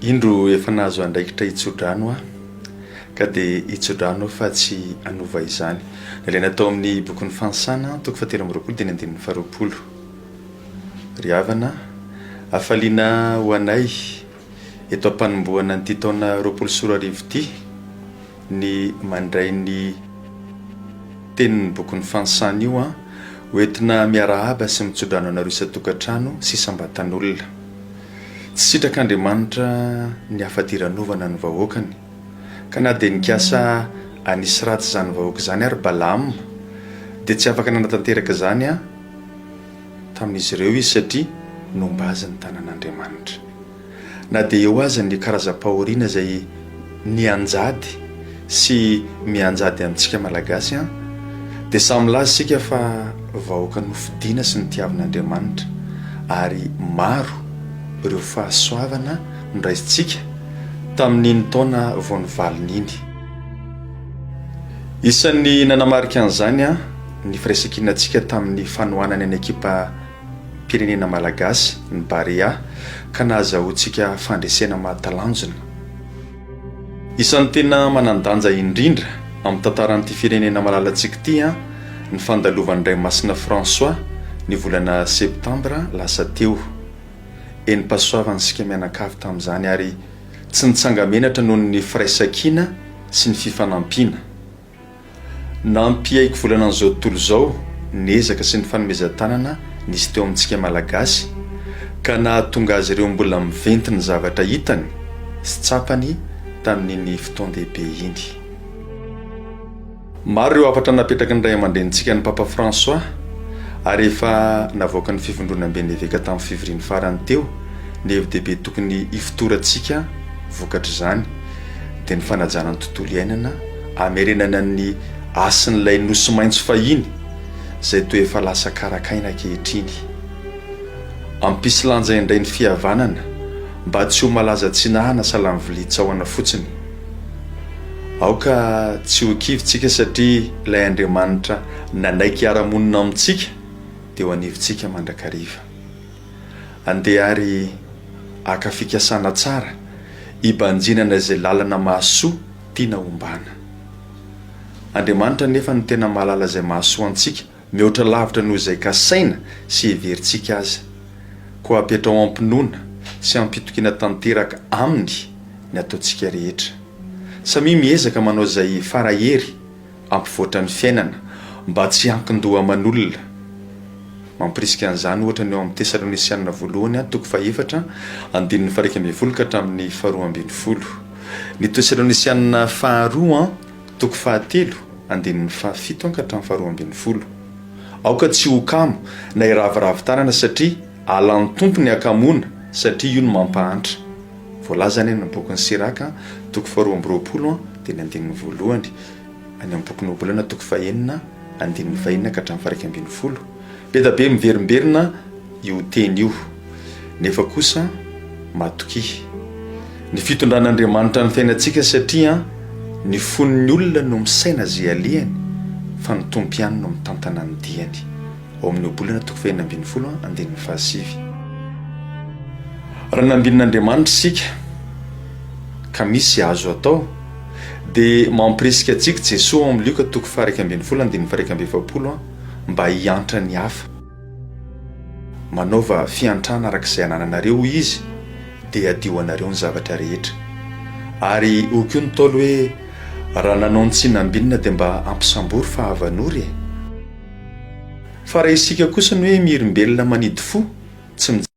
Indro efa nahazo andraikitra hitsodrano aho, ka dia hitsodrano aho fa tsy hanova izany. Nalaina tao amin'ny bokin'ny Fanisana, toko fahatelo amby roapolo, teny andininy faharoapolo. Ry havana a! Hafaliana ho anay, eto am-panombohana an'ity taona roapolo sy roa arivo ity, ny mandray ny tenin'ny bokin'ny fanisany io an! ho entina miarahaba sy mitsodrano anareo isan-tokantrano sy isam-batan'olona. Tsy sitrak'Andriamanitra ny hafadiranovana ny vahoakany, ka na dia nikasa hanisy ratsy izany vahoaka izany ary Balaama, dia tsy afaka nanatanteraka izany an! tamin'izy ireo izy satria nomba azy ny tanan'Andriamanitra. Na dia eo aza ny karazam-pahoriana izay nianjady sy mianjady amintsika Malagasy an, dia samy milaza isika fa vahoaka nofidina sy notiavin'Andriamanitra ary maro ireo fahasoavana noraisintsika tamin'iny taona vao nivalona iny. Isan'ny nanamarika an'izany an, Ny firaisankinantsika tamin'ny fanohanana ny ekipam-pirenena malagasy, ny Barea, ka nahazahoantsika fandresena mahatalanjona. Isan'ny tena manan-danja indrindra amin'ny tantaran'ity firenena malalantsika ity ny fandalovan'Indraimasina François ny volana septambra lasa teo. Enim-pahasoavana isika mianankavy tamin'izany ary tsy nitsanga-menatra noho ny firaisankina sy ny fifanampiana. Nampiaiky volana an'izao tontolo izao ny ezaka sy ny fanomezan-tanana nisy teo amintsika Malagasy ka nahatonga azy ireo mbola miventy ny zavatra hitany sy tsapany tamin'iny fotoan-dehibe iny. Maro ireo hafatra napetraky ny Raiamandrenintsika ny Papa François ary efa navoaka ny Fivondronamben'ny Eveka tamin'ny fivoriany farany teo ny hevi-dehibe tokony hifotorantsika vokatr'izany. dia ny fanajana ny tontolo iainana hamerenana ny hasin'ilay nosy maitso fahiny izay toa efa lasa karak'aina ankehitriny. Ampisy lanja indray ny fihavanana mba tsy ho malaza tsinahana salany vilia tsaohana fotsiny. Aoka tsy ho kivy tsika satria ilay Andriamanitra nanaiky hiara-monina amintsika dia eo anivontsika mandrakariva. Andeha ary haka fikasana tsara hibanjinana izay lalana mahasoa tiana hombana. Andriamanitra anefa no tena mahalala izay mahasoa antsika mihoatra lavitra noho izay kasaina sy heverintsika aza. Koa apetraho am-pinoana sy am-pitokiana tanteraka Aminy ny ataontsika rehetra. Samia miezaka manao izay fara hery hampivoatra ny fiainana mba tsy hiankin-doha aman'olona. Mampirisika an'izany, ohatra, ny ao amin'ny Tesalônisianina Voalohany an, toko fahefatra, andininy faha-iraika ambin'ny folo ka hatramin'ny faharoa ambin'ny folo. Ny Tesalônisianina Faharoa an, toko fahatelo, andininy fahafito an ka hatramin'ny faharoa ambin'ny folo. Aoka tsy ho kamo na hiraviravy tanana satria halan'ny Tompo ny hakamoana, satria io no mampahantra. Voalaza any amin'ny bokin'i Siraka, toko faharoa amby roapolo, dia ny andininy voalohany, any amin'ny bokin'i Ohabolana, toko fahenina, andininy fahenina ka hatramin'ny faharaika ambin'ny folo. Be dia be miverimberina io teny io, nefa kosa matokia. Ny fitondran'Andriamanitra ny fiainantsika satria ny fon'ny olona no misaina izay alehany, fa ny Tompo ihany no mitantana ny diany. ao amin'ny Ohabolana toko fahenina ambin'ny folo andininy fahasivy. Raha nambinin'Andriamanitra isika ka misy azo atao dia mampirisika antsika Jesoa ao amin'ny Lioka toko faha-iraika ambin'ny folo andininy faha-iraika amby efapolo mba hiantra ny hafa. Manaova fiantrana araka izay anananareo, hoy Izy, dia hadio anareo ny zavatra rehetra. Ary hoy koa ny Ntaolo hoe, Raha nanao ny tsy nambinina dia mba ampisambory fa havan'ory e! Fa raha isika kosa ny hoe miherimbelona manidy fo, tsy mijery.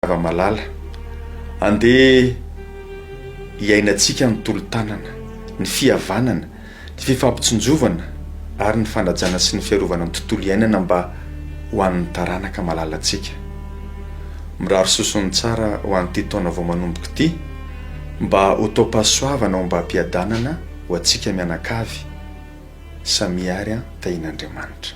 Zava-malala. Andeha hiainantsika ny tolo-tanana, ny fihavanana. ny fifampitsinjovana ary ny fanajana sy ny fiarovana ny tontolo iainana mba ho an'ny taranaka malalantsika. Mirary sosony tsara ho an'ity taona vao manomboka ity mba ho taom-pahasoavana ombam-piadanana ho antsika mianakavy samia ary an, tahian'Andriamanitra.